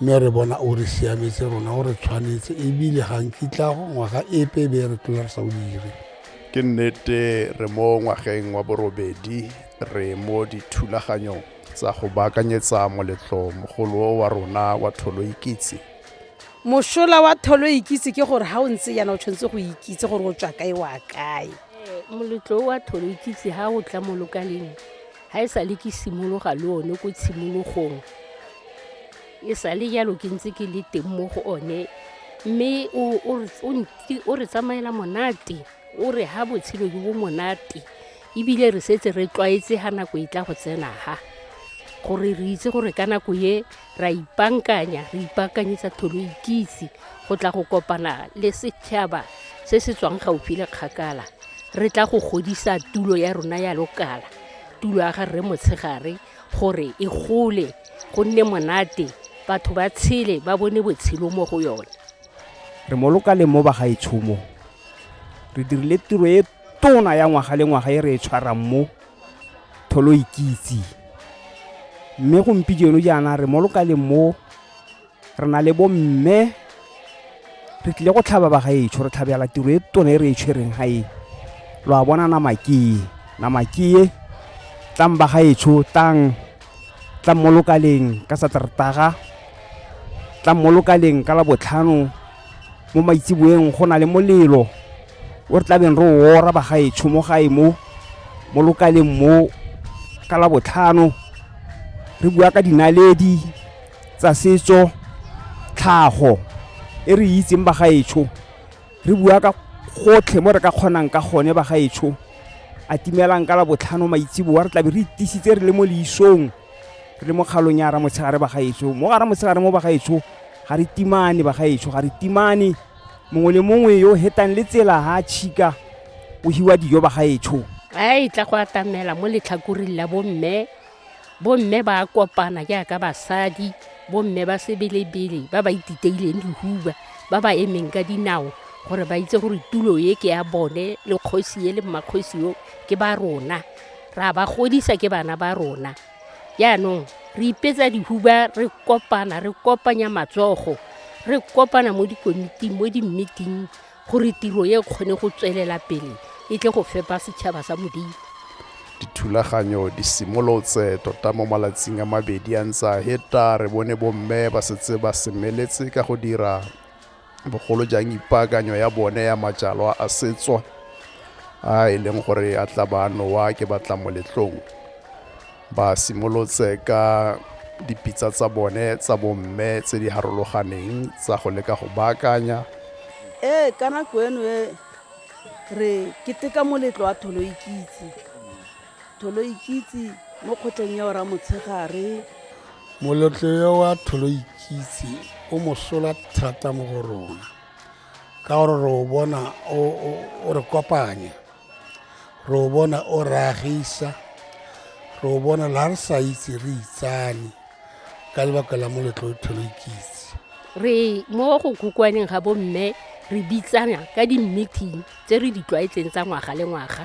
mme re bona o re siametse rona o re tshwanetse ebile ga nkitla ngwaga epe e be re tlola re sa o dire ke nnete re mo ngwageng wa borobedi re mo dithulaganyong tsa go baakanyetsa moletlo mogolo wa rona wa tholo ikitse mosola wa tholo ikitse ke gore ga o ntse yana o tshwanetse go ikitse gore o tswa kae wa kae moletlo wa tholo ikitse ga o tla mo lokaleng Ga e sale ke simologa le one ko tshimologong, e sale jalo ke ntse ke le teng mo go one, mme o re tsamaela monate, o re ha botshelo jo bo monate ebile re setse re tlwaetse ga nako e tla go tsena ha gore re itse gore ka nako e ra ipankanya re ipaakanyetsa tholo ikitse go tla go kopana le setšhaba se se tswang gaufi le kgakala re tla go godisa tulo ya rona ya lokala tulo ya ga rre motshegare gore e gole go nne monate batho ba tshele ba bone botshelo mo go yone re mo lokaleng mo bagaetshomo re dirile tiro e tona ya ngwaga le ngwaga e re e tshwarang mo tholoikitse. Mme gompieno jaana re mo lokaleng mo, re na le bomme, re tlile go tlhaba bagaetsho, re tlhabela tiro e tona e re e tshwereng ga e. Lo a bona Namakee? Namakee, tlang bagaetsho, tlang, tlang mo lokaleng ka Sateretaga, tlang mo lokaleng ka Labotlhano. mo maitseboeng go na le molelo o re tlabeng re o ora bagaetsho mo gae mo mo lokaleng mo ka la botlhano re bua ka dinaledi tsa setso tlhago e re itseng bagaetsho re bua ka gotlhe mo re ka kgonang ka gone bagaetsho a timelang ka la botlhano maitseboa re tlabe re itisitse re le mo leisong re le mo kgalong ya ramotshegare bagaetsho mo ga ramotshegare mo bagaetsho ga re timane bagaetsho ga re timane mongwe le mongwe yo o hetang le tsela ga a tšhika o hiwa dijo bagaetsho a e tla go atamela mo letlhakoring la bomme bomme ba kopana jaaka basadi bomme ba sebelebele ba ba ititeileng dihuba ba ba emeng ka dinao gore ba itse gore tulo e ke ya bone le kgosi e le mmakgosi yo ke ba rona ra ba godisa ke bana ba rona jaanong re ipetsa dihuba re kopana re kopanya matsogo re kopana mo dikomiting mo dimmiting gore tiro e kgone go tswelela pele e tle go fepa setšhaba sa modimo dithulaganyo di simolotse tota mo malatsing a mabedi a ntse a heta re bone bomme ba setse ba semeletse ka go dira bogolo jang ipaakanyo ya bone ya majalwa a setswa a e leng gore a tla ba nowa ke batla moletlong ba simolotse ka dipitsa tsa bone tsa bomme tse di harologaneng tsa go leka go baakanya ee ka nako eno e re keteka moletlo wa tholoikitse Tholoikitse mo kgotleng ya Oramotshegare. Moletlo yo wa Tholoikitse o mosola thata mo go rona ka gore re o bona o re kopanya re o bona o re agisa re o bona la re sa itse re itsane ka lebaka la moletlo o Tholoikitse re mo go khukwaneng ga bomme re bitsana ka di-meeting tse re di tlwaetseng tsa ngwaga le ngwaga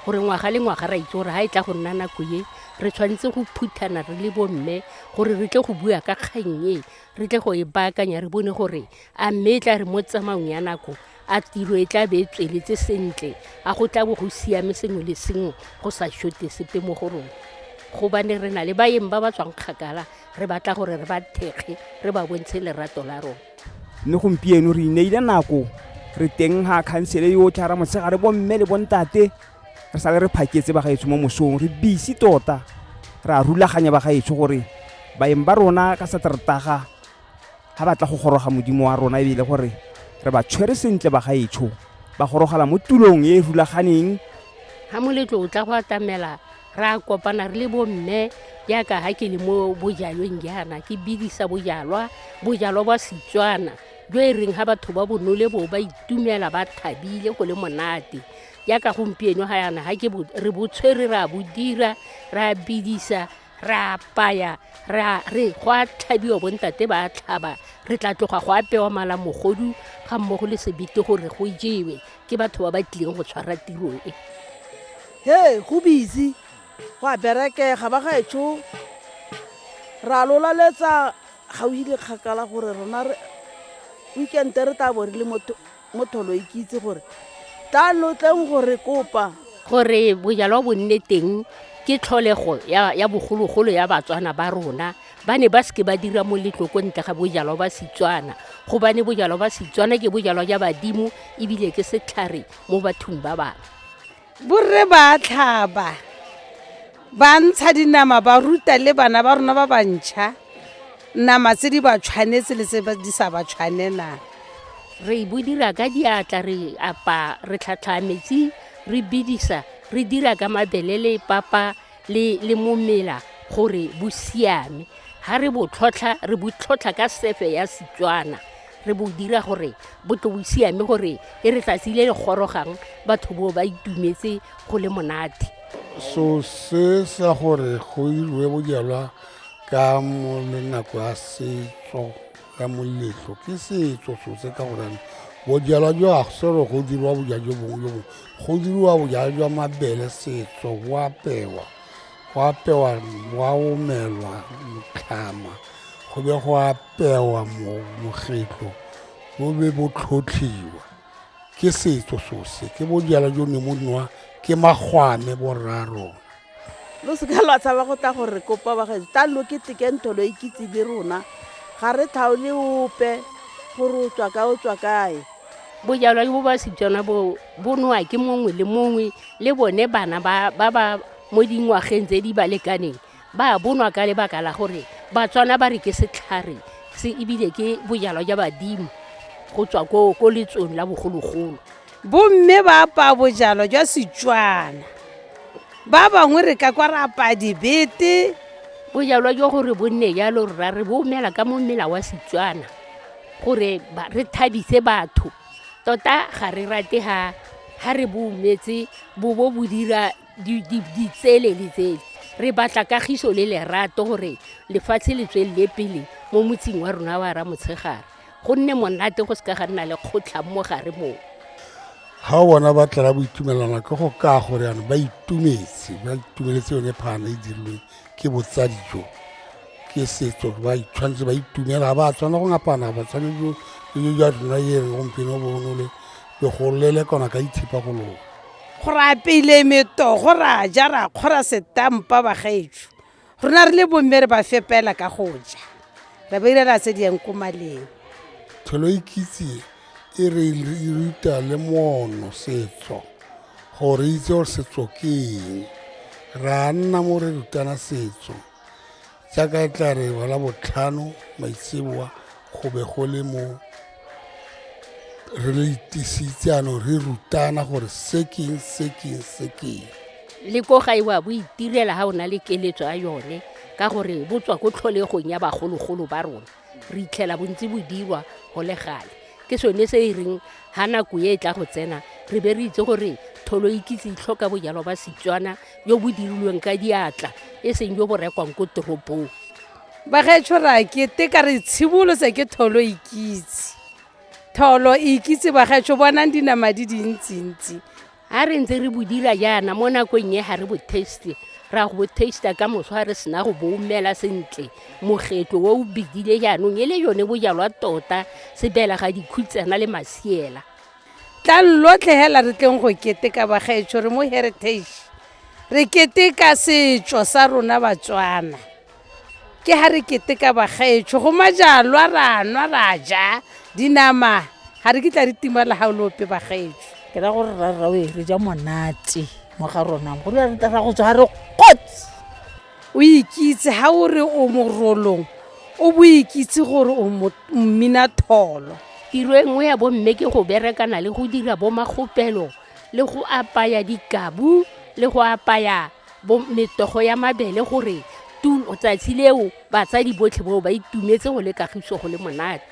gore ngwaga le ngwaga ra itse gore ga e tla go nna nako e re tshwanetse go phuthana re le bomme gore re tle go bua ka kgang e re tle go e baakanya re bone gore a mme e tla re mo tsamaong ya nako a tiro e tla be e tsweletse sentle a go tla bo go siame sengwe le sengwe go sa shote sepe mo go rona gobane re na le baeng ba ba tswang kgakala re batla gore re ba thekge re ba bontshe lerato la rona mme gompieno re ineile nako re teng ga khansele yotlhe ra motshegare bomme le bontate re sale re phaketse bagaetsho mo mosong re bisi tota re a rulaganya bagaetsho gore baeng ba rona ka sateretaga ga batla go goroga modimo wa rona ebile gore re ba tshwere sentle bagaetsho ba gorogela mo tulong e e rulaganeng ga moletlo o tla go atamela ra kopana re le bomme jaaka ga ke le mo bojalweng jaana ke bidisa bojalwa bojalwa bwa setswana jo e reng ga batho ba bonole bo ba itumela ba thabile go le monate jaaka gompieno ga yana ga ke re botshwere re a bo dira re a bidisa re apaya re go a tlhabiwa bontate ba a tlhaba re tla tloga go apewa malamogodu ga mmogo le sebete gore go jewe ke batho ba ba tlileng go tshwara tiro e he go busy go a berekega ba gaetsho ra lolaletsa ga o ile kgakala gore rona weekende re tla bo re le mo tholo e ke itse gore tla lo tleng gore kopa gore bojalwa bo nne teng ke tlholego ya bogologolo ya batswana ba rona ba ne ba seke ba dira moletlo ko ntle ga bojalwa ba setswana gobane bojalwa ba setswana ke bojalwa ja badimo ebile ke setlhare mo bathong ba bangwe borre ba tlhaba ba ntsha dinama ba ruta le bana ba rona ba bantšha nama tse di ba tshwanetse le tse di sa ba tshwanelang re bo dira ka diatla re apa re tlhatlhaa metsi re bidisa re dira ka mabele le papa le le mo mela gore bo siame ga re bo tlhotlha re bo tlhotlha ka sefe ya setswana re bo dira gore bo tlo bo siame gore e re tsatsi le le gorogang batho bo ba itumetse go le monate so se sa gore go iriwe bojalwa ka mo le nako ya setso ka moletlo ke setso sotse ka gorane bojalwa jo agsero go dirwa boja jo bongwe jo bongwe go diriwa bojala jwa mabele setso go apewa go apewa wa omelwa motlhama go be go apewa mogetlo bo be bo tlhotlhiwa ke setso sose ke bojala jo ne mo nwa ke magwame borrarona lo seka lwa tshaba go tla gore kopa bagaetso tla lo keteke ntho lo ikitse le rona ga re tlhaole ope gore o tswa kae o tswa kae bojalwa bo ba setswana bo bo nowa ke mongwe le mongwe le bone bana ba ba ba mo dingwageng tse di ba lekaneng ba bonwa ka lebaka la gore batswana ba re ke setlhare se ebile ke bojalwa jwa badimo go tswa ko ko letsong la bogologolo Bomme ba apaya bojalwa jwa Setswana. Ba bangwe re ka kwa re apaya dibete. Bojalwa jwa gore bo nne jalo rra re bo omela ka mo mmela wa Setswana gore re thabise batho. Tota ga re rate ha re bo ometse bo bo bo dira ditsele le tsele. Re batla kagiso le lerato gore lefatshe le tswelele pele mo motseng wa rona wa Ramotshegare. go nne monate go se ka ga nna le kgotlhang mo gare moo ga o bona ba tlela bo itumelana ke go ka gore yana ba itumetse ba itumeletse yone phana e dirilweng ke botsadi jo ke setso ba tshwanetse ba itumela ga ba tshwana go ngapana ba tshwanetse le ja rona e reng gompieno bonole le go lele kona ka itshepa go loga go ra pele metogo ra ja ra kgora setampa bagaetso rona re le bomme re ba fepela ka go ja re ba irela tse di yang ko maleng tholo ikitse e re e ruta le mono setso gore itse gore setso ke eng ra nna mo re rutana setso jaaka e tla re wala botlhano maitseboa go be go le mo re lo itisitse anong re rutana gore se keng se keng se keng le ko ga ewa bo itirela ga o na le keletso ya yone ka gore bo tswa ko tlholegong ya bagologolo ba rona re itlhela bontsi bo dirwa go le gale ke sone se e reng ga nako e e tla go tsena re be re itse gore tholo ikitse itlhoka bojalwa ba setswana jo bo dirilweng ka diatla e seng jo bo rekwang ko toropong bagaetsho ra ke te ka re tshibolose ke tholo ikitse tholo ikitse bagaetsho bonang dinama di dintsintsi ga re ntse re bodira jaana mo nakong e ga re bo taste ra go bo taste ka moswa re sena go bo umela sentle mogetlo o o bidile jaanong e le yone bojalwa tota sebela ga dikhutsana le masiela tlang lotlhe hela re tleng go keteka bagaetsho re mo heritage re keteka setso sa rona batswana ke ha re keteka bagaetsho go majalwa ra nwa ra ja dinama ga re kitla re timala ga o le ope bagaetsho ke ra gore rarrawe re ja monate mo ga rona go ra go tswa ga re kgotse o ikitse ha o re o morolong o bo ikitse gore o mmina tholo tiro e nngwe ya bomme ke go berekana le go dira bomakgopelo le go apaya dikabu le go apaya metogo ya mabele gore tsatsi leo batsadi botlhe bao ba itumetse go le kagiso go le monate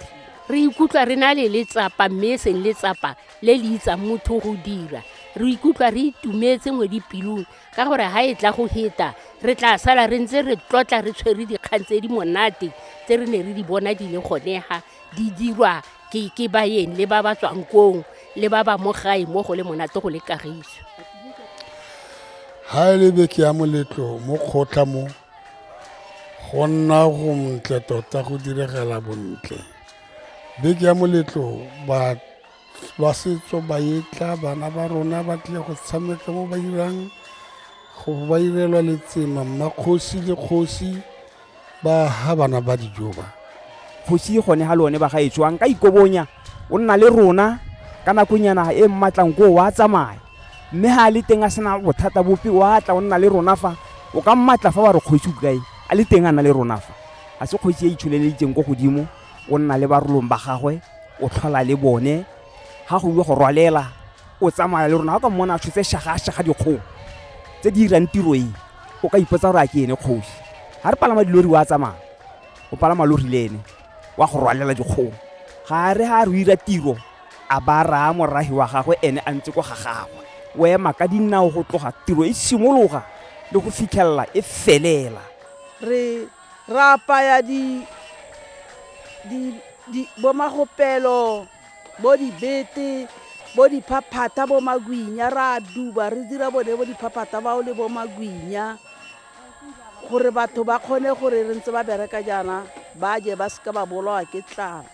re ikutlwa re na le letsapa mme e seng letsapa le le itsang motho go dira re ikutlwa re itumetse mo dipelong ka gore ga e tla go heta re tla sala re ntse re tlotla re tshwere dikgang tse di monate tse re ne re di bona di le gonega di dirwa ke ke baeng le ba ba tswang kong le ba ba mo gae mo go le monate go le kagiso ha e le beke ya moletlo mo kgotla mo go nna go montle tota go diragala bontle beke ya moletlo ba lwa setso ba etla bana ba rona ba tlile go tshameka mo ba irang go ba irelwa letsema mmakgosi le kgosi ba ha bana ba dijo ba kgosi gone ga le one ba ga e tswang ka ikobonya o nna le rona ka nakonyana e mmatlang ko wa tsamaya mme ga a le teng a sena bothata bope wa tla o nna le rona fa o ka mmatla fa ba re kgosi o kae a le teng a na le rona fa a se kgosi e itsholeleditseng ko godimo o nna le barolong ba gagwe o tlhola le bone ga go ile go rwalela o tsamaya le rona ga ka mmona a tshotse shagashaga dikgong tse di dirang tiro e o ka ipotsa gore a ke ene kgosi ga re palama dilori wa tsamaya o palama lori le ene wa go rwalela dikgong ga re ga re o ira tiro a ba raya moragi wa gagwe ene a ntse kwa ga gagwe o ema ka dinao go tloga tiro e simologa le go fitlhelela e felela re Ra apaya di, di, di bo magopelo bo dibete bo diphaphatha bo magwinya ra duba re dira bone bo diphaphatha bao le bo magwinya gore batho ba kgone gore re ntse ba bereka jaana ba je ba seka ba bolawa ke tlala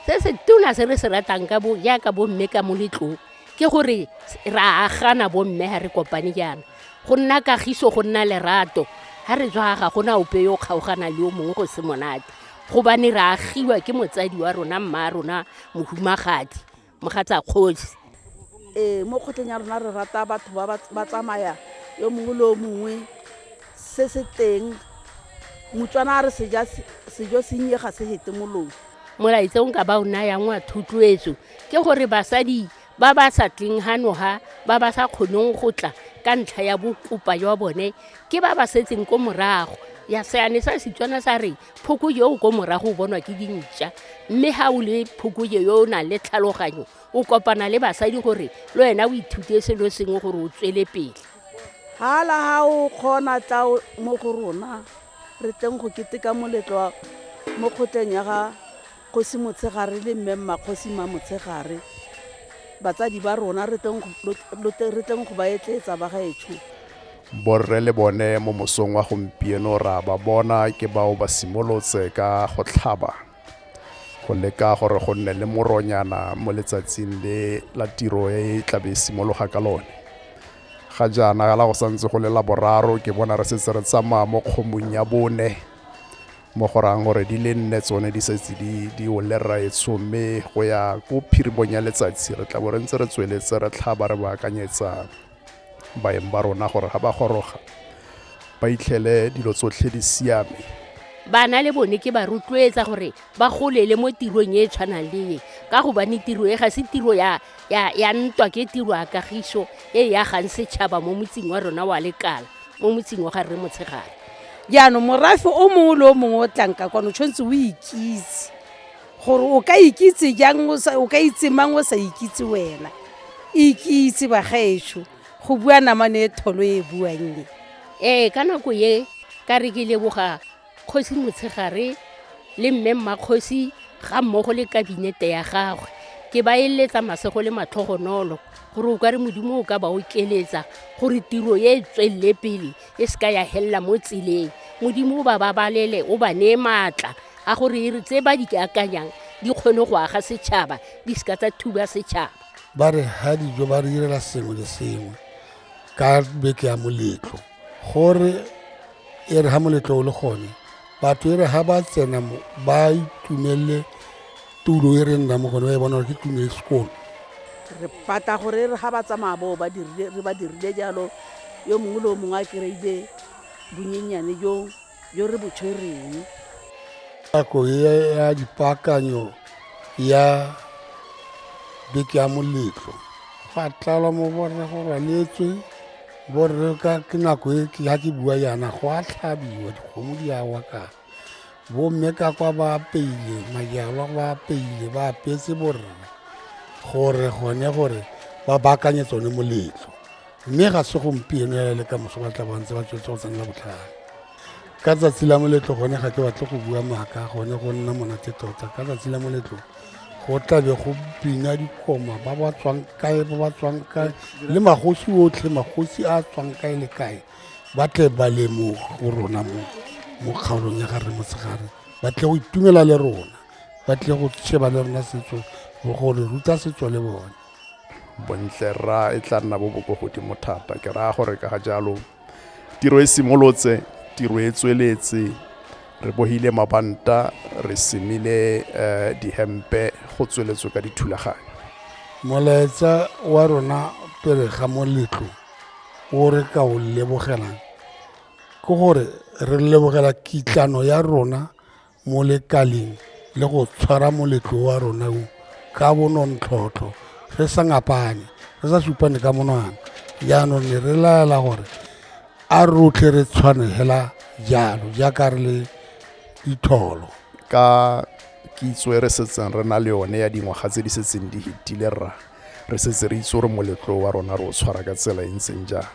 se se tona se re se ratang ka bo jaaka bomme ka moletlong ke gore ra agana bomme ga re kopane jaana go nna kagiso go nna lerato ga re tswa ga gona ope yo kgaogana le yo mongwe go se monate gobane re agiwa ke motsadi wa rona mma rona mohumagadi mogatsa kgosi ee mo kgotleng ya rona re rata batho ba tsamaya yo mongwe le yo mongwe se se teng motswana a re sejo sennye ga se hete molong molaetsa o nka ba o nayang wa thotloetso ke gore basadi ba ba sa tleng hanoga ba ba sa kgoneng go tla ka ntlha ya bokopa jwa bone ke ba ba setseng ko morago ya seane sa setswana sa re phoko yo o ko morago o bonwa ke dintša mme ga o le phoko yo o nang le tlhaloganyo o kopana le basadi gore le wena o ithute selo sengwe gore o tswele pele hala ga o kgona tla mo go rona re tleng go keteka moletlo mo kgotleng ya ga Kgosi Motshegare le Mme Mmakgosi Mmamotshegare, batsadi ba rona, re tleng go, re tleng go ba etleetsa bagaetsho. Borre le bone mo mosong wa gompieno ra ba bona ke bao ba simolotse ka go tlhaba go leka gore go nne le moronyana mo letsatsing le la tiro e e tla be e simologa ka lone. Ga jaana la go santse go le Laboraro, ke bona re setse re tsamaya mo kgomong ya bone. mo go rayang gore di le nne tsone di setse di di o le raetsho mme go ya ko phirimong ya letsatsi re tla bo re ntse re tsweletse re tlhaba re baakanyetsa baeng ba rona gore ga ba goroga ba itlhele dilo tsotlhe di siame bana le bone ke ba rotloetsa gore ba golele mo tirong e e tshwanang le e ka gobane tiro e ga se tiro ya ya, ya ntwa ke tiro ya kagiso e e agang setšhaba mo motseng wa rona wa lekala mo motseng wa ga rre motshegare jaanong morafe o mongwe le o mongwe o tlanka kwane o tshwanetse o ikitse gore o ka ikitse jang o sa- o ka itse mang o sa ikitse wena ikitse bagaetsho go bua namane e tholo e e buang e ee ka nako ye ka re ke leboga kgosi motshegare le mme mmakgosi ga mmogo le kabinete ya gagwe ke ba eletsa masego le matlhogonolo gore o ka re modimo o ka ba okeletsa gore tiro e e tswelele pele e se ka ya helela mo tseleng modimo o ba babalele o ba neye maatla a gore e tse ba di akanyang di kgone go aga setšhaba di se ka tsa thuba setšhaba ba re ga dijo ba re direla sengwe le sengwe ka beke ya moletlo gore e re ga moletlo o le gone batho e re ga ba tsena mo ba itumelele tulo e re nna mo gone ba e bona gore ke tulo e sekolo re batla gore e re ga ba tsamaya boo re ba dirile jalo yo mongwe le o mongwe a kry-ile bonyenyane joo jo re bo tshwereng. Nako ya dipaakanyo ya beke ya moletlo fa tlala mo borre go rwaletswe borre ka ke nako e ga ke bua yana go a tlhabiwa dikgomo di awa ka bomme ka kwa ba apeile majalwa ba apeile ba apetse borre gore gone gore ba baakanye tsone moletlo mme ga se gompieno ya le ka moso ba tla bantse ba tswetse go tsenela botlhale ka tsatsi la moletlo gone ga ke batle go bua maaka gone go nna monate tota ka tsatsi la moletlo go tlabe go bina dikoma ba ba tswang kae ba ba tswang kae le magosi otlhe magosi a tswang kae le kae ba tle ba le mo go rona mo mo kgaolong ya gare motshegare ba tle go itumela le rona ba tle go sheba le rona setso go re ruta setso le bone bontle rra e tla nna bo bo ko godimo thata ke raya gore ka ga jalo tiro e simolotse tiro e tsweletse re bohile mabanta re semile um dihempe go tsweletswe ka dithulaganyo molaetsa wa rona pele ga moletlo o re ka o lebogelang ke gore re lebogela kitlano ya rona mo lekaleng le go tshwara moletlo wa rona o ka bonontlhotlho re sa ngapane re sa supane ka monwana jaanong ne re laela gore a rotlhe re tshwane fela jalo jaaka re le ditholo ka kitso e re setseng re na le yone ya dingwaga tse di setseng di fetile rra re setse re itse gore moletlo wa rona re o tshwara ka tsela e ntseng jang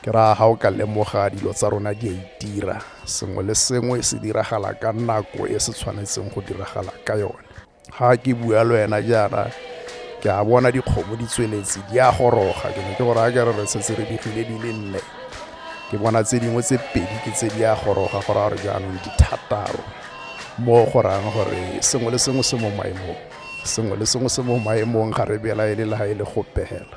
ke raya ga o ka lemoga dilo tsa rona di a itira sengwe le sengwe se diragala ka nako e se tshwanetseng go diragala ka yone ga ke bua le wena jaana ke a bona dikgomo di tsweletse di a goroga ke ne ke gore a ke re re setse re digile di le nne ke bona tse dingwe tse pedi ke tse di a goroga go raya gore jaanong dithataro mo go rayang gore sengwe le sengwe se mo maemong sengwe le sengwe se mo maemong ga re belaele le ga e le go pegela